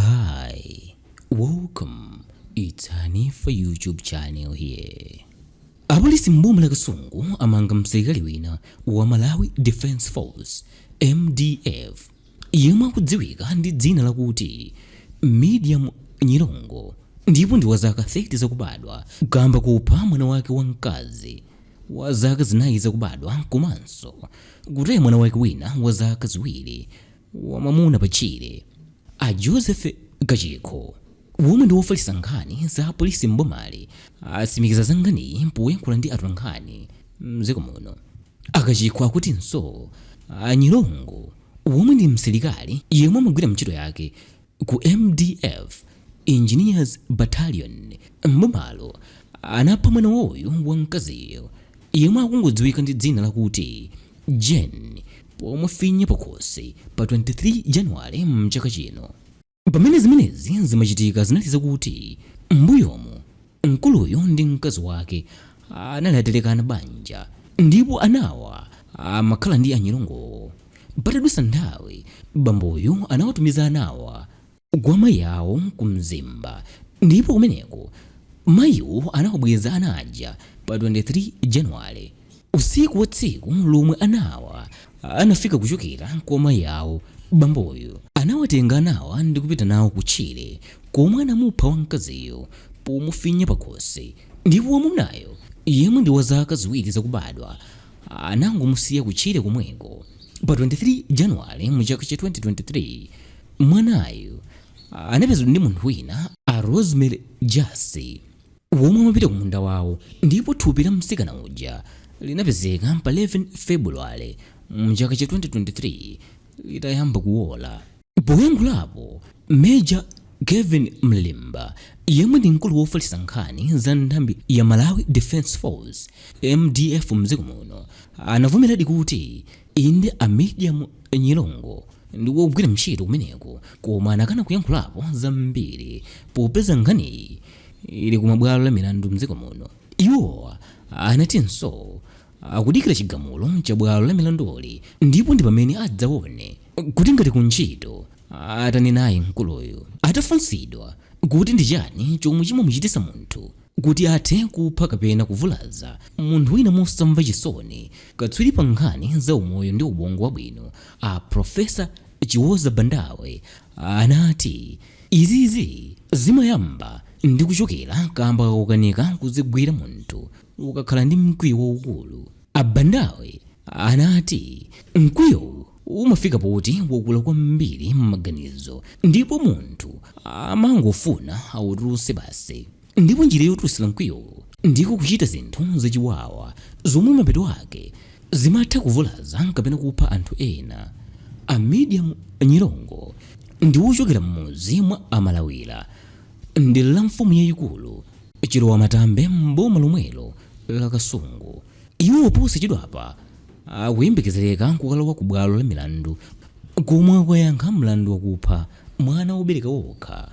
Hi, welcome. It's Hanifa YouTube channel here. Apolisi m'boma la Kasungu amanga msilikali wina wa Malawi Defence Force MDF yemwe akudziwika ndi dzina lakuti Medium Nyirongo ndipo ndi wa zaka 30 zakubadwa kamba kopha mwana wake wamkazi wa zaka zinayi zakubadwa komanso kutaya mwana wake wina wa zaka ziwiri wamwamuna pa tchire a Joseph Kachikho womwe ndi wofalitsa nkhani za apolisi m'bomali atsimikiza za nkhaniyi poyankhula ndi atolankhani mdziko muno a Kachikho akutinso a Nyirongo womwe ndi msilikali yemwe amagwira mchito yake Ku MDF Engineers Battalion m'bomalo anapha mwana wawoyo wamkaziyo yemwe akungodziwika ndi dzina lakuti Jane pomufinya pakhosi pa 23 January m'chaka chino. Pamene zimenezi zimachitika zinali zakuti m'mbuyomu Mkuluyu ndi mkazi wake anali atalekana banja ndipo anawa amakhala ndi a Nyirongowo. Patadutsa nthawi, bamboyu anawatumiza anawa kwa mayi awo ku Mzimba ndipo kumeneko mayiwo anawabweza ana aja pa 23 January. Usiku wa tsiku lomwe anawa anafika kuchokera kwa mayi awo, bamboyu anawatenga anawa ndikupita nawo kutchire komwe anamupha wamkaziyo pomufinya pakhosi ndipo wamwamunayo yemwe ndi wa zaka ziwiri zakubadwa anangomusiya kutchire komweko. Pa 23 January mu chaka cha 2023, mwanayu anapezedwa ndi munthu wina a Rosemary Jassi. womwe amapita ku munda wawo ndipo thupi la mtsikana uja linapezeka pa 11 February mchaka cha 2023 litayamba kuwola. Poyankhulapo, Major Kelvin Mlelemba yemwe ndi mkulu wofalitsa nkhani za nthambi ya Malawi Defence Force MDF mdziko muno anavomeradi kuti inde a Medium Nyirongo ndi wogwira ntchito kumeneko koma anakana kuyankhulapo zambiri popeza nkhaniyi ili kumabwalo a milandu mdziko muno iwo anatinso akudikira chigamulo cha bwalo la milanduli ndipo ndi pamene adzaone kuti ngati ku ntchito atani naye mkuluyu atafunsidwa kuti ndi chani chomwe chimamuchitisa munthu Kuti athe kupha kapena kuvulaza munthu wina mosamva chisoni, katswiri pa nkhani za umoyo ndi ubongo wabwino, a Professor Chiwoza Bandawe, anati izizi zimayamba ndi kuchokera kaamba kakukanika kudzigwira munthu ukakhala ndi mkwiyo waukulu. A Bandawe anati mkwiyowu umafika poti wakula kwambiri m'maganizo ndipo munthu amangofuna autulutse basi ndipo njira yotulutsira mkwiyowo ndiko kuchita zinthu zachiwawa zomwe mapeto ake zimatha kuvulaza kapena kupha anthu ena a medium nyirongo ndi wochokera m'mudzi mwa amalawira m'dera la mfumu yayikulu chilowa matambe m'boma lomwelo la kasungu Iwo posachedwapa akuyembekezereka kukalowa ku bwalo la milandu komwe akukayankha mlandu wakupha mwana wobereka okha.